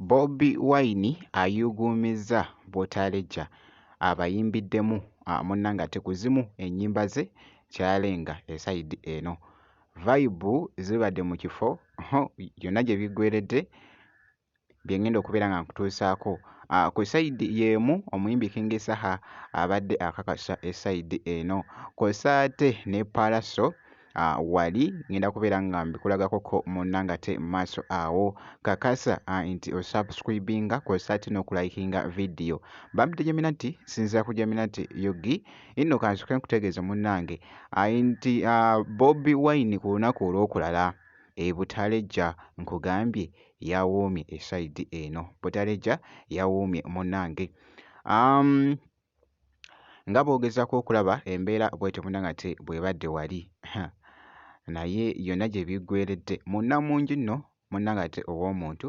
Bobi Wine ayuuguumizza Butaleja abayimbiddemu munna ng'ate ku zimu ennyimba ze kyalenga esayidi eno. Vayibu zibadde mu kifo yonna gye biggweeredde bye ŋŋenda okubeera nga nkutuusaako. Ku sayidi y'emu omuyimbi King Saha abadde akakasa esayidi eno kw'ossa ate ne Pallaso wali ŋŋenda kubeera nga mbikulagakoko munna nga te mu maaso awo. Kakasa nti osubscribinga kw'ossa ate n'okulayikinga vidiyo. Bambi tejamina nti sinzira ku jamina nti yogi inno kansoke nkutegeeze munnange nti Bobi Wine ku lunaku olw'okulala e Butaleja nkugambye yawoomye esayidi eno Butaleja yawoomye munnange um, nga bw'ogezaako okulaba embeera bwetyo munnangate bw'ebadde wali naye yonna gye biggweeredde munnamungi nno munnangate ow'omuntu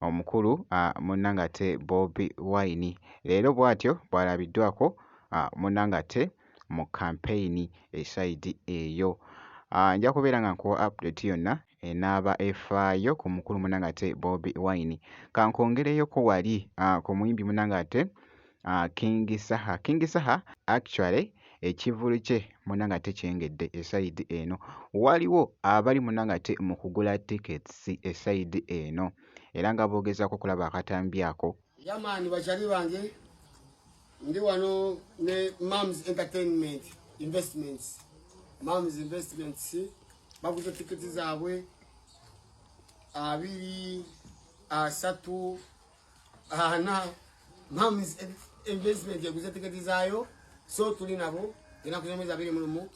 omukulu ah, munnange ate Bobi Wine leero bw'atyo bw'alabiddwako ah, munnange ate mu kampeyini esayidi eyo. Ah, nja kubeera nga nkuwa update yonna enaaba efaayo ku mukulu munange ate Bobi Wine. Kankwongereyoko wali uh, ku muyimbi munange ate uh, King Saha. King Saha actually ekivulu kye munange ate kyengedde esayidi eno. Waliwo abali munange ate mu kugula tickets esayidi eno era nga boogezaako okulaba akatambi ako Yamani bachali bange ndi wano ne Moms Entertainment Investments. Moms Investments baguze tiketi zaabwe abiri asatu ana Moms Investment yaguze tiketi zaayo so tuli nabo enaku z'omwezi abiri mu lumu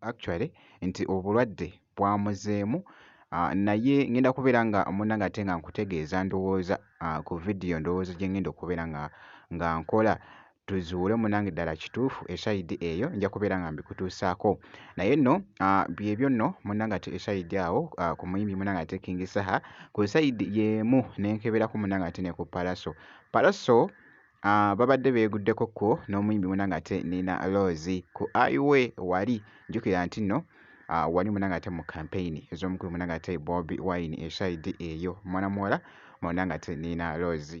actually nti obulwadde bwamuzeemu ah, naye ngenda kubeera nga munange ate nga nkutegeeza ndowooza ah, ku vidiyo ndowooza gye ngenda okubeera nga nga nkola tuzuule munange ddala kituufu esayidi eyo nja kubeera nga mbikutuusaako naye nno ah, byebyo nno munange ate esayidi awo ah, ku muyimbi munange ate kingi saha ku sayidi yeemu nenkeberako munange ate ne ku palaso palaso Ah, babadde beeguddeko kko n'omuyimbi muna ng'ate Nina Rose ku Aiwe wali jjukira nti nno ah, wali muna ng'ate mu kampeyini ez'omukulu muna ng'ate Bobi Wine esaidi eyo mwana muwala muna ng'ate Nina Rose.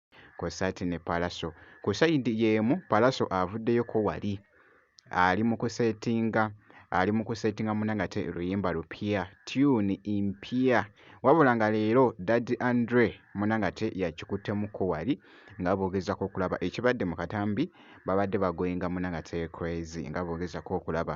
kwossa ate ne Pallaso. Ku sayidi y'emu Pallaso avuddeyoko wali ali mu kuseetinga ali mu kuseetinga muna nga te luyimba lupya tyuni mpya wabula nga leero dadi andre muna nga te yakikuttemuko wali nga boogezako okulaba ekibadde mu katambi babadde bagoyinga muna nga te crazy nga boogezako okulaba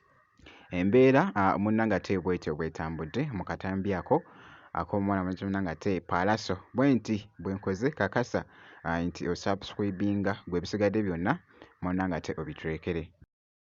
Embeera munnange ate bw'etyo bw'etambudde mu katambi ako ak'omuwala mwennyini munnange ate Paalaso bwenti bwe nkoze kakasa nti osubscribinga ggwe ebisigadde byonna munnange ate obitulekere.